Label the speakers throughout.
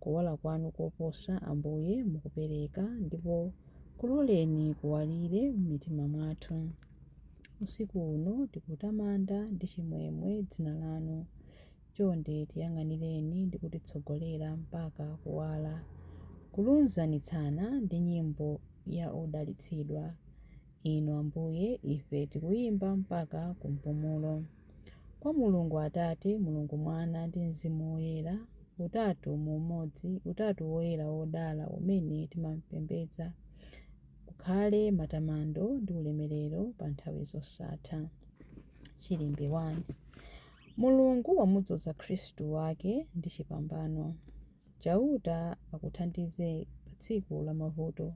Speaker 1: Kuwala kwanu koposa, Ambuye, mukupereka, ndipo kuloleni kuwalire mmitima mwathu. Usiku uno tikutamanda ndi chimwemwe Dzina Lanu. Chonde tiyang'anireni ndi kutitsogolera mpaka Kuwala. Kulunzanitsana ndi nyimbo ya odalitsidwa. Inu Ambuye, ife tikuyimba mpaka ku mpumulo. Kwa Mulungu Atate, Mulungu Mwana, ndi Mzimu Woyera, utatu mu umodzi, utatu woyera wodala umene timampembedza, kukhale matamando ndi ulemerero pa nthawi zosatha. Chilimbi 1. Mulungu wamudzoza Khristu wake ndi chipambano. Chauta akuthandize pa tsiku la mavuto.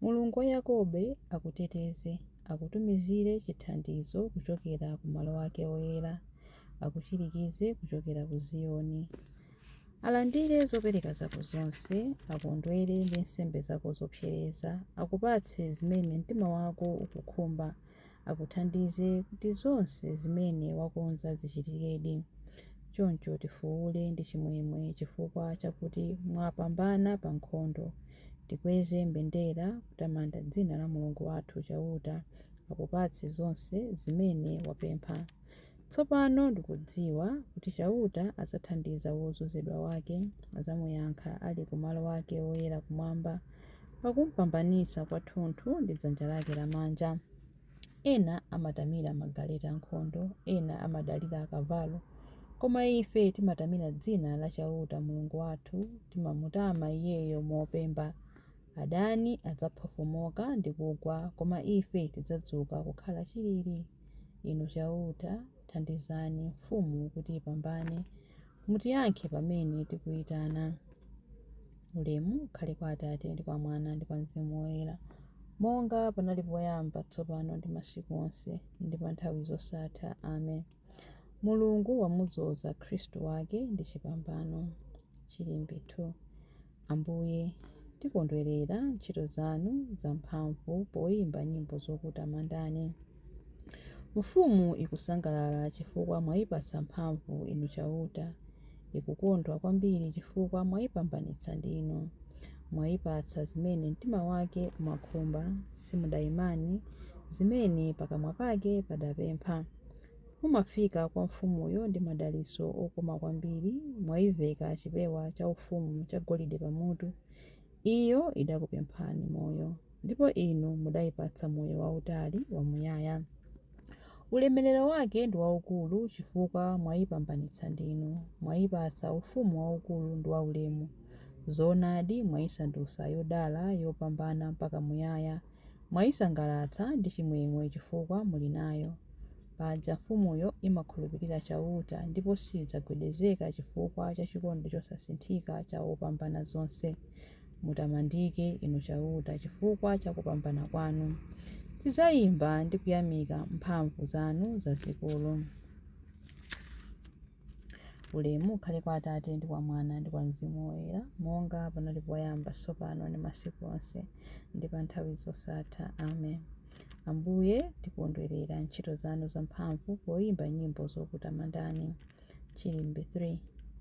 Speaker 1: Mulungu wa Yakobe akuteteze, akutumizire chithandizo kuchokera ku malo ake oyera, akuchirikize kuchokera ku Ziyoni. Alandire zopereka zako zonse, akondwere ndi nsembe zako zopsereza, akupatse zimene mtima wako ukukhumba. akuthandize kuti zonse zimene wakonza zichitikedi. Choncho tifuule ndi chimwemwe chifukwa chakuti mwapambana pa nkhondo. Tikweze mbendera kutamanda dzina la Mulungu wathu Chauta akupatse zonse zimene wapempha. Tsopano ndikudziwa kuti Chauta adzathandiza wodzozedwa wake, adzamuyankha ali ku malo ake oyera kumwamba, pakumpambanitsa kwathunthu ndi dzanja lake lamanja. Ena amatamira magaleta ankhondo, ena amadalira akavalo, koma ife timatamira dzina la Chauta Mulungu wathu, timamutama Iyeyo mopemba. Adani adzaphofomoka ndi kugwa, koma ife tidzadzuka kukhala chilili. Inu Chauta, thandizani mfumu kuti ipambane. Mutiyankhe pamene tikuitana. Ulemu ukhale kwa Atate, ndi kwa Mwana, ndi kwa Mzimu Woyera, monga panali poyamba, tsopano ndi masiku onse, ndi pa nthawi zosatha. Amen. Mulungu wamudzoza Khristu wake ndi chipambano. Chilimbi 2. Ambuye, tikondwerera ntchito zanu zamphamvu poimba nyimbo zokutamandani. Mfumu ikusangalala chifukwa mwaipatsa mphamvu, Inu Chauta. Ikukondwa kwambiri chifukwa mwaipambanitsa ndinu. Mwaipatsa zimene mtima wake umakhumba, simudaimane zimene pakamwa pake padapempha. Mumafika kwa mfumuyo ndi madalitso okoma kwambiri, mwaiveka chipewa chaufumu chagolide pamutu. Iyo idakupemphani moyo, ndipo inu mudaipatsa moyo wautali wamuyaya. Ulemerero wake ndi waukulu chifukwa mwaipambanitsa ndinu, mwaipatsa ufumu waukulu ndi waulemu. Zoonadi, mwaisandutsa yodala, yopambana mpaka muyaya. Mwaisangalatsa ndi chimwemwe chifukwa muli nayo. Paja mfumuyo imakhulupirira Chauta, ndipo sidzagwedezeka chifukwa cha chikondi chosasinthika cha Wopambanazonse. Mutamandike, Inu Chauta, chifukwa cha kupambana kwanu. Tidzaimba ndi kuyamika mphamvu zanu zazikulu. Ulemu ukhale kwa Atate, ndi kwa Mwana, ndi kwa Mzimu Woyera, monga panali poyamba, tsopano, ndi masiku onse, ndi pa nthawi zosatha. Amen. Ambuye, tikondwerera ntchito zanu zamphamvu poyimba nyimbo zokutamandani. Chilimbe 3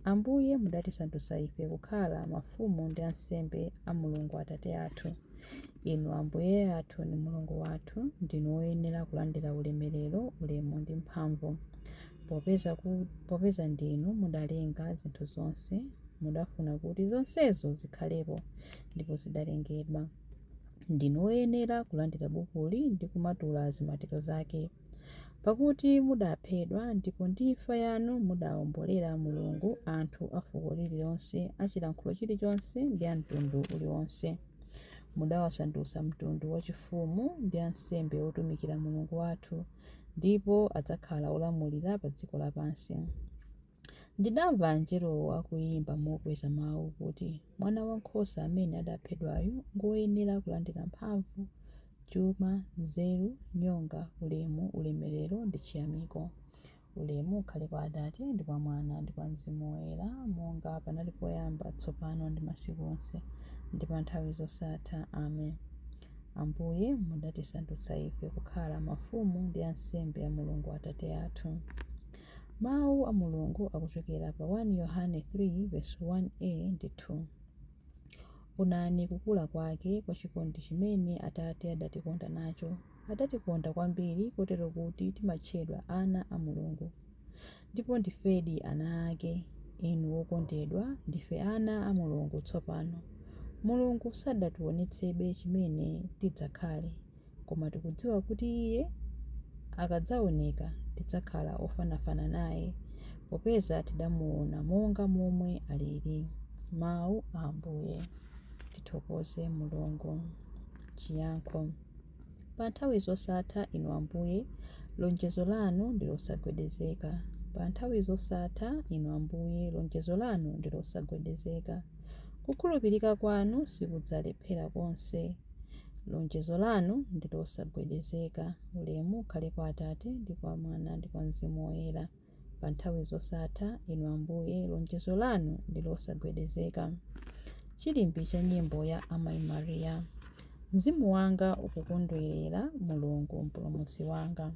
Speaker 1: Ambuye, mudatisandutsa ife kukhala mafumu ndi ansembe a Mulungu Atate athu. Inu Ambuye athu ndi Mulungu wathu, ndinu woyenera kulandira ulemerero, ulemu ndi mphamvu. Popeza ndinu mudalenga zinthu zonse, mudafuna kuti zonsezo zikhalepo, ndipo zidalengedwa. Ndinu woyenera kulandira bukuli ndi kumatula zimatiro zake. Pakuti mudaphedwa, ndipo ndi imfa yanu mudawombolera Mulungu anthu a fuko lililonse, a chilankhulo chilichonse, ndi a mtundu uliwonse. Mudawasandutsa mtundu wachifumu ndi ansembe otumikira Mulungu wathu. ndipo adzakhala olamulira pa dziko lapansi. Ndidamva anjelowo akuyimba mokweza mawu kuti, Mwana Wankhosa amene adaphedwayu ngoyenera kulandira mphamvu, chuma, nzeru, nyonga, ulemu, ulemerero ndi chiyamiko. Ulemu ukhale kwa Atate, ndi kwa Mwana, ndi kwa Mzimu Woyera, monga panali poyamba, tsopano ndi masiku onse, ndi pa nthawi zosatha. Amen. Ambuye, mudatisandutsa ife kukhala mafumu ndi ansembe a Mulungu Atate athu. Mawu a Mulungu akuchokera pa 1 Yohane 3 vesi 1a ndi 2. Onani kukula kwake kwa chikondi chimene Atate adatikonda nacho. Adatikonda kwambiri kotero kuti timatchedwa ana a Mulungu. Ndipo ndifedi ana ake. Inu okondedwa, ndife ana a Mulungu tsopano. Mulungu sadatiwonetsebe chimene tidzakhale, koma tikudziwa kuti Iye akadzawoneka tidzakhala ofanafana naye, popeza tidamuwona monga momwe aliri. Mawu a Ambuye. Tithokoze Mulungu. Chiyankho. Pa nthawi zosatha, Inu Ambuye, lonjezo Lanu ndi losagwedezeka. Pa nthawi zosatha, Inu Ambuye, lonjezo Lanu ndi losagwedezeka. Kukhulupirika Kwanu sikudzalephera konse. Lonjezo Lanu ndi losagwedezeka. Ulemu ukhale kwa Atate, ndi kwa Mwana, ndi kwa Mzimu Woyera. pa nthawi zosatha, Inu Ambuye, lonjezo lanu ndi losagwedezeka. Chilimbi cha nyimbo ya Amayi Maria. Mzimu wanga ukukondwerera Mulungu Mpulumutsi wanga.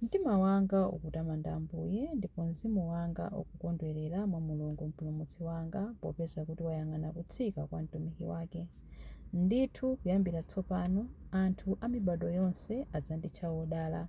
Speaker 1: Mtima wanga ukutamanda Ambuye, ndipo mzimu wanga ukukondwerera mwa Mulungu Mpulumutsi wanga, popeza kuti wayang'ana kutsika kwa mtumiki wake. Ndithu, kuyambira tsopano, anthu a mibadwo yonse adzanditcha wodala.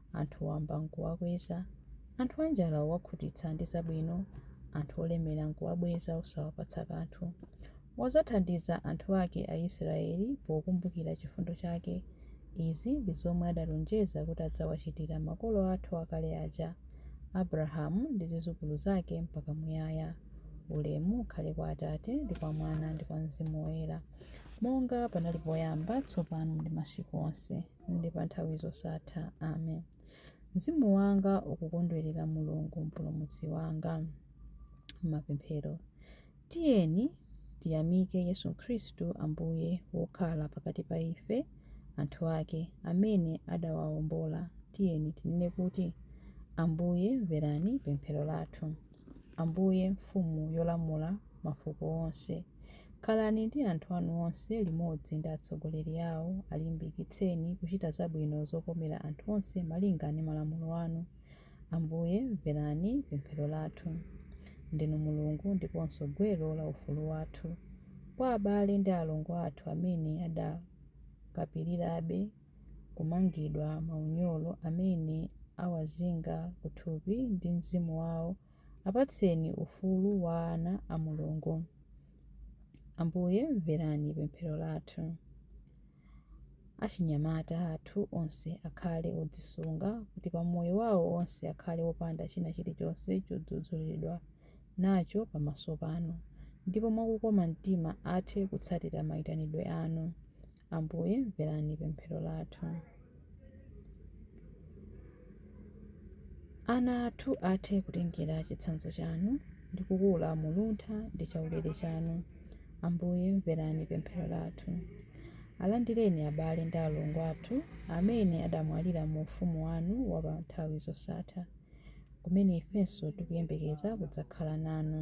Speaker 1: anthu wamba n'kuwakweza, anthu anjala wakhutitsa ndi zabwino, anthu olemera n'kuwabweza osawapatsa kanthu. Wadzathandiza anthu ake Aisiraeli pokumbukira chifundo chake. Izi ndi zomwe adalonjeza kuti adzawachitira makolo athu akale aja, Abrahamu ndi zidzukulu zake mpaka muyaya. Ulemu ukhale kwa Atate, ndi kwa Mwana, ndi kwa mzimu woyera, monga panali poyamba, tsopano ndi masiku onse. ndi pa nthawi zosatha. Amen. Mzimu wanga ukukondwerera Mulungu Mpulumutsi wanga. Mapemphero. Tiyeni tiyamike Yesu Khristu Ambuye wokhala pakati pa ife, anthu ake, amene adawaombola. Tiyeni tinene kuti, Ambuye mverani pemphero lathu. Ambuye, Mfumu yolamula mafuko onse, khalani ndi anthu anu onse limodzi ndi atsogoleri awo. Alimbikitseni kuchita zabwino zokomera anthu onse malinga ndi malamulo anu. Ambuye, mverani pemphero lathu. Ndinu Mulungu ndiponso Gwero la ufulu wathu. Kwa abale ndi alongo athu amene adakapirirabe kumangidwa maunyolo amene awazinga kuthupi ndi mzimu wao, apatseni ufulu wa ana a Mulungu. Ambuye mverani pemphero lathu. Achinyamata athu onse akhale odzisunga kuti pa moyo wao wonse akhale opanda china chilichonse chodzudzulidwa nacho pamaso panu, ndipo mwa kukoma mtima athe kutsatira maitanidwe anu. Ambuye, mverani pemphero lathu. Ana athu athe kutengera chitsanzo chanu ndi kukula mu luntha ndi chaulere chanu. Ambuye, mverani pemphero lathu. Alandireni abale ndi alongo athu amene adamwalira mu ufumu wanu wa pa nthawi zosatha, kumene ifenso tikuyembekeza kudzakhala nanu.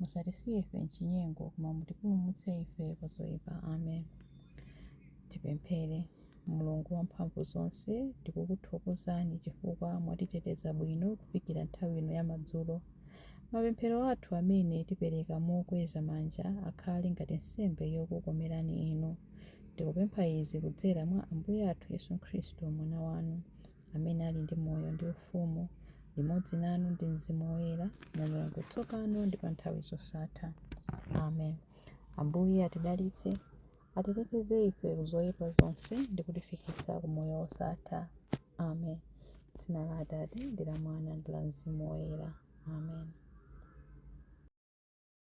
Speaker 1: Musatisiye ife m'chinyengo, koma mutipulumutse ife kwa zoipa. Amen. Tipemphere. Mulungu wamphamvu zonse, tikukuthokozani chifukwa mwatiteteza bwino kufikira nthawi ino ya madzulo. Mapemphero athu amene tipereka mokweza manja akhale ngati nsembe yokukomerani Inu. Tikupempha izi kudzera mwa Ambuye athu Yesu Khristu, Mwana wanu. amene ali ndi moyo ndi ufumu limodzi nanu ndi mzimu woyera mulungu tsopano ndi pa nthawi zosatha amen ambuye atidalitse atiteteze ife kuzoyipa zonse ndi kutifikitsa ku moyo wosatha amen dzina la atate ndi la mwana ndi la mzimu woyera amen